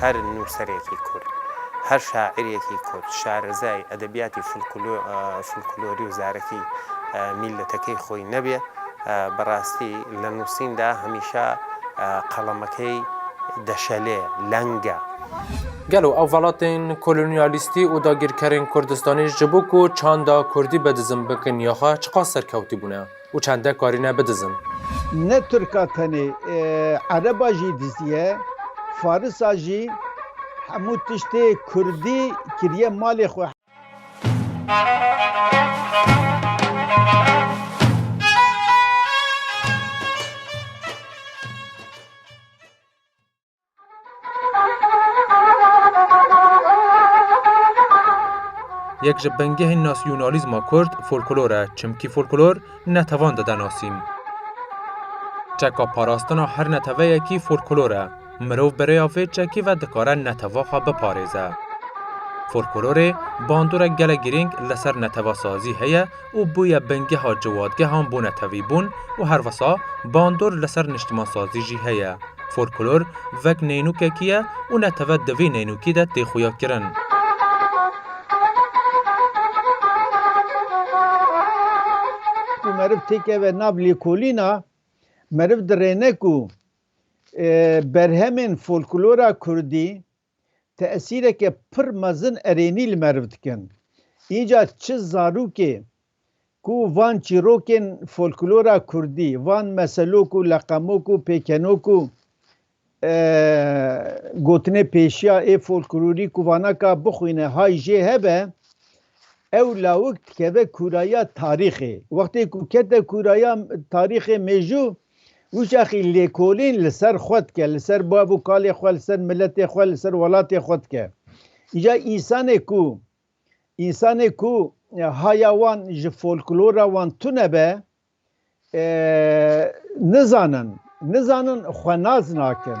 Her nûserekî kurd, her şaîrekî kurd, şarizayî, edebiyatî, folklorî û zarekî mîletekî xwî nebê, bi rastî li nûsîn de hemîşa qelemekî deşelê, leng e. Gelo ew velatên kolonyalîstî û dagîrkerên Kurdistanî ji bo ku çanda kurdî bedizim bikin ya xwe çiqas serkewtî bûne? Û çende karîne bidizin. Ne Tirka tenê, Ereba jî diziye, Farisa jî, hemû tiştê Kurdî kiriye malê xwe. Yek ji bingehên nasyonalîzma kurd folklor e, çimkî folklor netevan dide nasîn. Çeka parastina her neteveyekî folklor e. Mirov bi rêya vê çekê ve dikare neteva xwe biparêze. Folklorê bandorek gelek girîng li ser netevasazî heye û bûye bingeha ciwadgehan bonetevîbûn û her wisa bandor li ser niştimansazî jî heye. Folklor vek neynûkekî ye û netewet di vî neynûkî de tê xuya kirin. Ku meriv têkeve nav lêkolîna, meriv dirêne ku berhemên folklora kurdî tesîreke pir mezin erênî li meriv dikin. Înca çi zarokê ku van çîrokên folklora kurdî, van meselok û leqemok û pêkenok û gotinê pêşiya ê folklorî ku vanaka bixwîne hay jê hebe, ew lawik dikeve kûrayiya tarîxê. Wextê ku kete kûrayiya tarîxê mêjû, Wiçaxî lêkolîn li ser xwe dike, li ser bav û kalê xwe, li ser miletê xwe, li ser welatê xwe dike. Îja însanê ku însanê ku haya wan ji folklora wan tune be, nizanin, nizanin xwenaz nakin.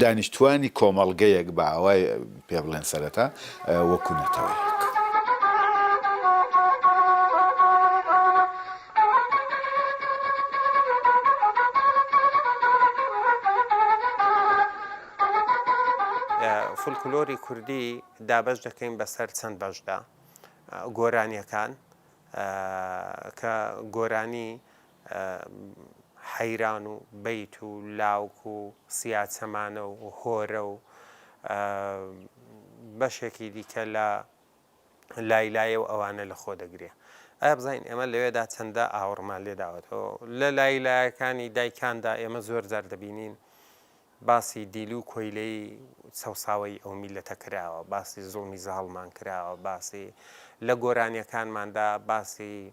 Danîştvanî komelgeyek bi awayê pê bilen sereta wekû neteweyek. Folklorê kurdî dabeş dekeyn be ser çend beş de. Goranîyekan, ke goranî heyran û beyt û lawk û siyaçemane û hore û beşekî dîke la Leylayê û ewane li xwe de girîya. Ev zayîn ême li wê de çende awirme lê dawet û li Leylayekanî daykan de ême zor car dibînîn basî dîlî û koyleyî sewsaweyî ew mîlete kirawe, basî zilmî zaliman kirawe, basî li goranîyekanman de basî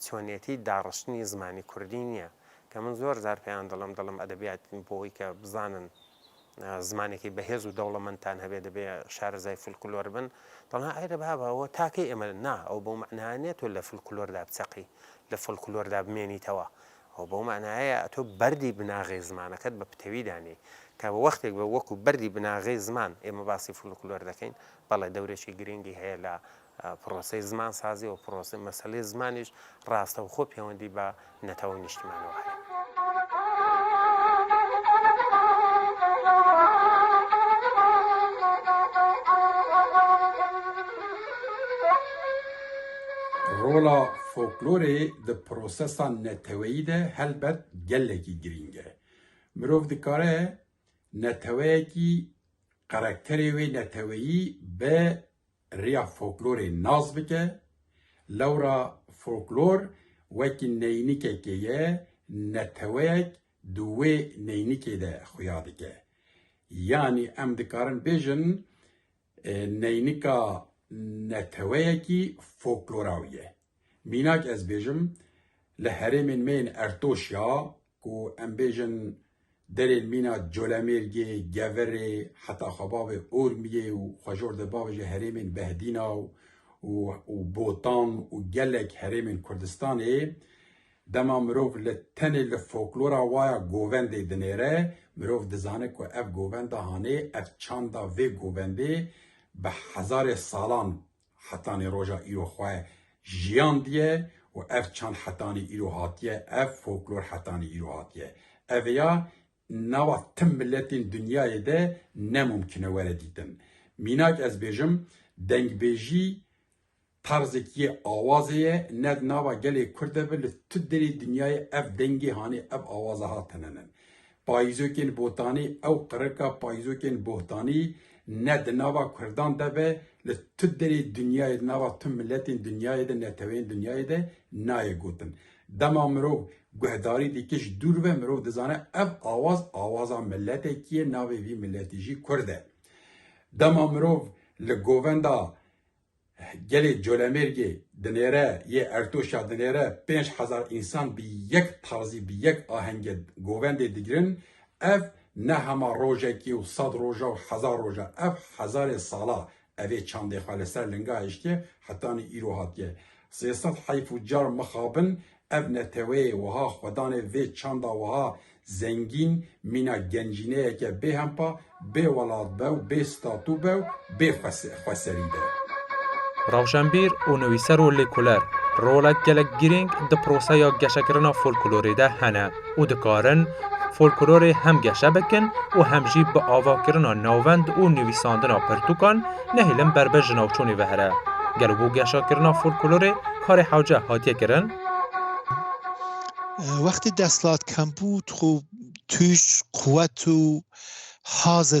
Çonetî daxiştinî zimanî kurdî nîye ke min zor car peyan dilim dilim edebîyat bo wî ke bizanin zimanekî bihêz û dewlemend tan hebê dibê şarizay folklor bin. Dilan eyre baba ew takê eme na ew bo manaya nîye to li folklor da biseqî li folklor da bimênî tewa ew bo manaya ye to berdî binaxê zimaneket bi pitewî danê ke bi wextêk ve wekû berdî binaxê ziman ême basî folklor dekeyn bele dewrêkî girîngî heye la Proseyê zimansazî û proseyê meseleyê zimanî ji rastexwe pêwendî bi netew û nîştîmanê we heye. Rola foklorê di prosesa neteweyî de helbet gelekî girîng e. Mirov dikare neteweyekî karakterê wê neteweyî bi Rêya folklorê nas bike, lewra folklor wekî neynîkekê ye, neteweyek di wê neynîkê de xuya dike. Yanî em dikarin bêjin neynîka neteweyekî folkloraw ye. Mînak ez bêjim li herêmên me yên Ertoş ya ku em bêjin derên mîna Colemêrgê, Geverê heta Xebabê Urmiyê û xwe jor de bavêje herêmên Behdîna û Botan û gelek herêmên Kurdistanê dema mirov li tenê li foklora wa ya govendê dinêre mirov dizane ku ev govenda hanê ev çanda vê govendê bi hezarê salan Hetanî roja îro xwe jiyandiye û ev çand hetanî îro hatiye, ev folklor hetanî îro hatiye. Ev ya nava tim miletên dinyayê de ne mumkine were dîtin. Mînak ez bêjim dengbêjî tarzek yê awazê ye, ne di nava gelê kurd de bi li tu derê dinyayê ev dengê hanê ev awaza hat hinanin. Payîzokên botanî ew qirika payîzokên bohtanî ne di nava kurdan de be li tu derê dinyayê di nava tu miletên dinyayê de neteweyên dinyayê de nayê gotin. Dema mirov guhdarî dike ji dûr ve mirov dizane ev awaz awaza miletekî ye navê vî miletî jî kurd e. Dema mirov li govenda Gelê Colemêrgê dinêre yê Ertoşa dinêre pênc hezar însan bi yek tarzî bi yek ahengê govendê digirin, ev ne hema rojekî û sed roja û hezar roja ev hezarê sala evê çandê xwe li ser linga hiştiye hetanî îro hatiye. Sê sed heyf û car mixabin Ev neteweyê wiha xwe danê vê çanda wiha zengîn, mîna gencîneyeke bêhempa, bê welat be û bê statû be û bê xweserî be. Rewşenbîr û nivîser û lêkoler, rolek gelek girîng di proseya geşekirina folklorê de hene. û dikarin folklorê hem geşe bikin û hem jî bi avakirina navend û nivîsandina pirtûkan nehêlin berbe ji navçonê vehre. Gelo bo geşakirina folklorê karê hewce hatiye kirin? Wextê desthilat kembû tu xwe tûj, quwet û hazê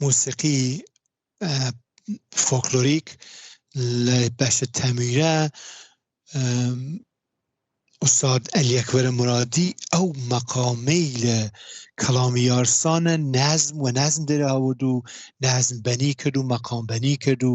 Musîqî folklorîk li beşê temûre Ustad Elî Ekber Muradî ew meqamê li kelamî yarsane nezm we nezm derê awird û nezm benî kir û meqam benî kir û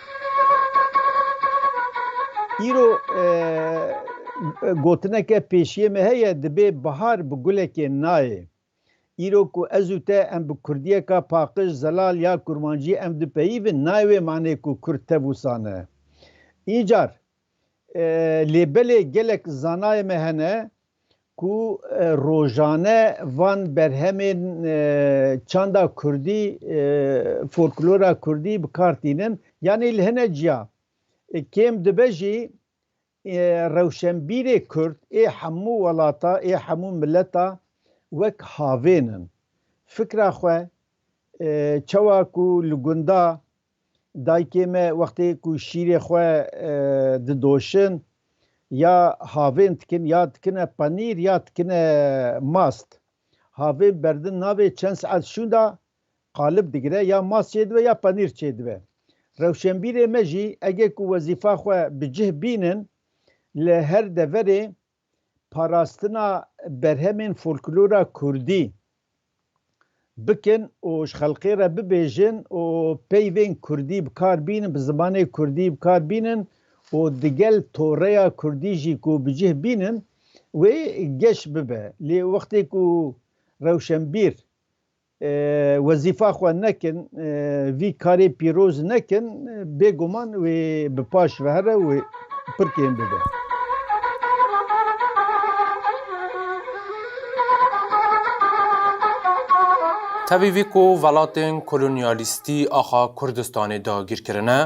Îro gotineke pêşiyê me heye, dibê bihar bi gulekê nayê. Îro ku ez û te em bi kurdiyeka paqij, zelal ya kurmancî em dipeyîvin nayê wê manê ku kurd tev û sane. Încar Lê belê gelek zanayê me hene ku rojane van berhemên çanda kurdî, folklora kurdî bi kar tînin. Yanî li hine ciya kêm dibe jî rewşenbîrê kurd ê hemû welata, ê hemû mileta wek havên in. Fikra xwe çawa ku li gunda Dayikê me wextê ku şîrê xwe didoşin ya havên dikin ya dikine panîr ya dikine mast. Havên berdin navê çend saet şûnda qalib digire ya mast çêdibe ya panîr çêdibe. Rewşenbîrê me jî ege ku wezîfa xwe bi cih bînin li her deverê parastina berhemên folklora kurdî bikin û ji xelkê re bibêjin û peyvên kurdî bi kar bînin, bi zimanê kurdî bi kar bînin û digel toreya kurdî jî ku bi cih bînin wê geş bibe. Lê wextê ku rewşenbîr wezîfa xwe nekin, vî karê pîroz nekin, bêguman wê bi paş ve here û pirkên bibe. Tevî vî ku welatên kolonyalîstî axa Kurdistanê dagîr kirine,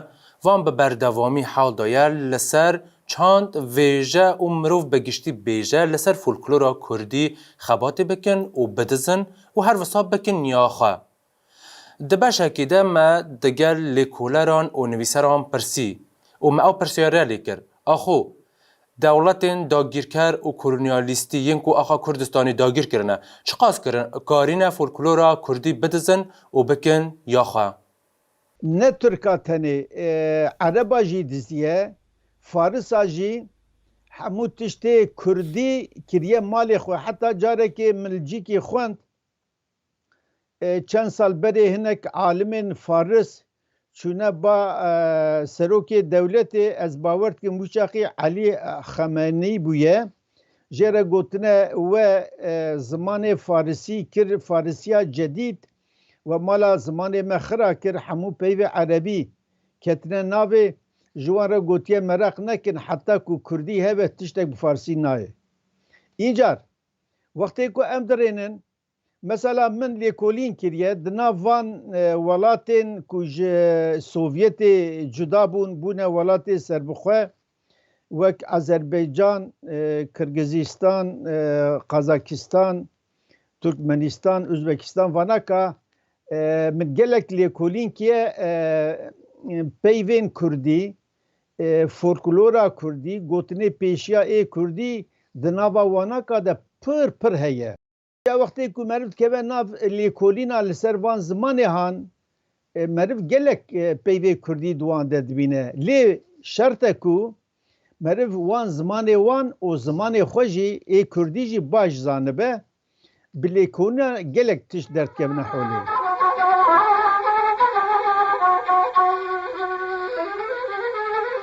van bi berdevamî hewl daye li ser çand, vêje û mirov bi giştî bêje li ser folklora Kurdî xebatê bikin û bidizin, Û her wisa bikin niya xwe. Di beşekê de me digel lêkoleran û nivîseran pirsî û me ew pirsiyariya lê kir, Axo, dewletên dagîrker û kolonyalîstî yên ku axa Kurdistanê dagîr kirine, çiqas kirin karîne folklora kurdî bidizin û bikin ya xwe? Ne Tirka tenê, Ereba jî dizdiye, Farisa jî, hemû tiştê Kurdî kiriye malê xwe. Heta carekê min Lcîkî xwend, çend sal berê hinek alimên Faris çûne ba serokê dewletê, ez bawer dikim wî çaxî Elî Xemenî bûye, Jê re gotine we zimanê farisî kir farisîya cedîd, we mala zimanê me xira kir hemû peyvê erebî ketine navê, ji wan re gotiye meraq nekin heta ku kurdî hebe tiştek bi farisî nayê. Încar wextê ku em dirênin Mesela min lêkolîn kiriye di nav van welatên ku ji Sovyetê cuda bûn, bûne welatê serbixwe wek Azerbaycan, Kirgizistan, Kazakistan, Turkmenistan, Uzbekistan vana ka min gelek lêkolîn kiye peyvên kurdî, folklora kurdî, gotinê pêşiya ê kurdî di nava wana ka de pir pir heye. Ya wextê ku meriv dikeve nav lêkolîna li ser van zimanê han, meriv gelek peyvê kurdî di wan de dibîne. Lê şert e ku meriv wan zimanê wan û zimanê xwe jî ê kurdî jî baş zanibe, bi lêkolîna gelek tişt derdikevine holê.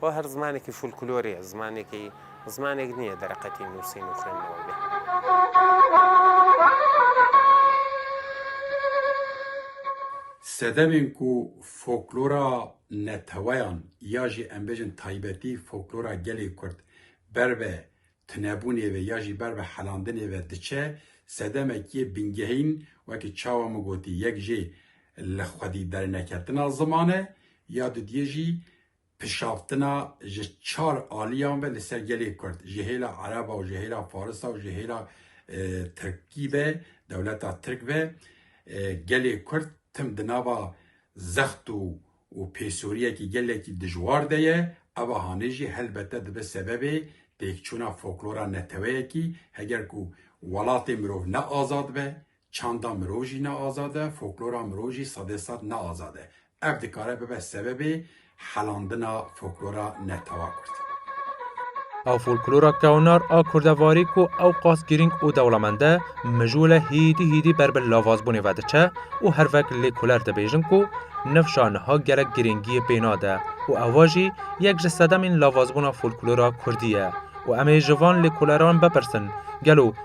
Xwe her zimanekî folklorê ye, zimanekî zimanek nîye dereqetî nûsîn û xwênnewe be. Sedemên ku folklora neteweyan ya jî em bêjin taybetî folklora gelê Kurd ber bi tunebûnê ve ya jî ber bi helandinê ve diçe, sedemek yê bingehîn wekî çawa min gotî yek jê li xwedî derneketina ziman e, ya dudiyê jî Pişaftina ji çar aliyan ve li ser gelê Kurd, ji hêla Ereba û ji hêla Farisa û ji hêla Tirkî ve, dewleta Tirk ve, gelê Kurd tim di nava zext û û pêsoriyekî gelekî dijwar de ye, eva hanê jî helbete dibe sebebê têkçûna foklora neteweyekî, heger ku welatê mirov ne azad be, Çanda mirov jî ne azad e, foklora mirov jî sedê sed ne azad e. Ev dikare bibe sebebê helandina foklora netewa kurd. Ew folklora kewnar a kurdevarî ku ewqas girîng û dewlemend e, mijûle hîdî hîdî ber bi lavazbûnê ve diçe û her vek lê kuler dibêjin ku nifşa niha gelek girîngiyê pê nade û eva jî yek ji sedemên lavazbûna folklora kurdî ye û em ê ji van lêkoleran bipirsin gelo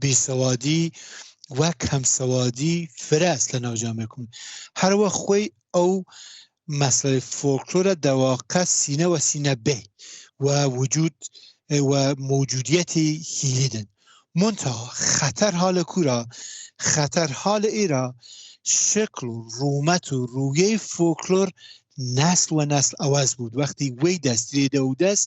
bêsewadî wek hemsewadî firas li navca me kun. Her wex xwê ew meselê folklora dewaqe sîne we sîne bê we wicud we mewcudiyetî hîlî din. Monta xeter hale kura, xeter hale îra şekl û rûmet û rûyê folklor nesl we nesl ewez bûd. Wextî wê dest rê de û dest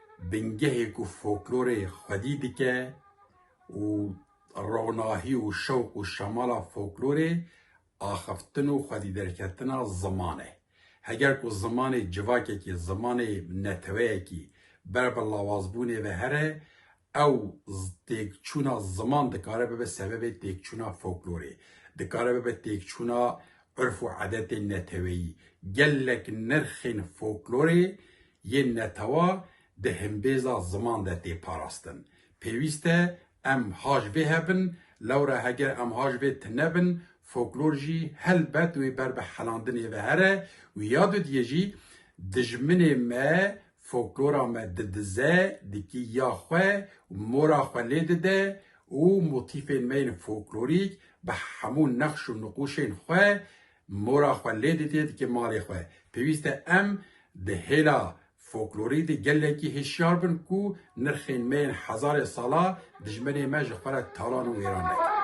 bingehê ku folklorê xwedî dike û ronahî û şewq û şemala folklorê axiftin û xwedîderketina ziman e. Heger ku zimanê civakekî, zimanê neteweyekî ber bi lawazbûnê ve here, ew têkçûna ziman dikare bibe sebebê têkçûna folklorê, dikare bibe têkçûna urf û edetên neteweyî. Gelek nirxên folklorê Yên netewa di himbêza ziman de tê parastin. Pêwîst e em haj vê hebin, lewra heger em haj vê tine bin, foklor jî helbet wê ber bi helandinê ve here û ya dudiyê jî dijminê me foklora me didize, dikî ya xwe û mora xwe lê dide û motîfên me yên foklorîk bi hemû nexş û niqûşên xwe Mora xwe lê didê dike malê xwe. Pêwîst e em di hêla foklorî de gelekî hişyar bin ku nirxên me yên hezarê sala dijmenê me ji xwe re talan û wêran nekin.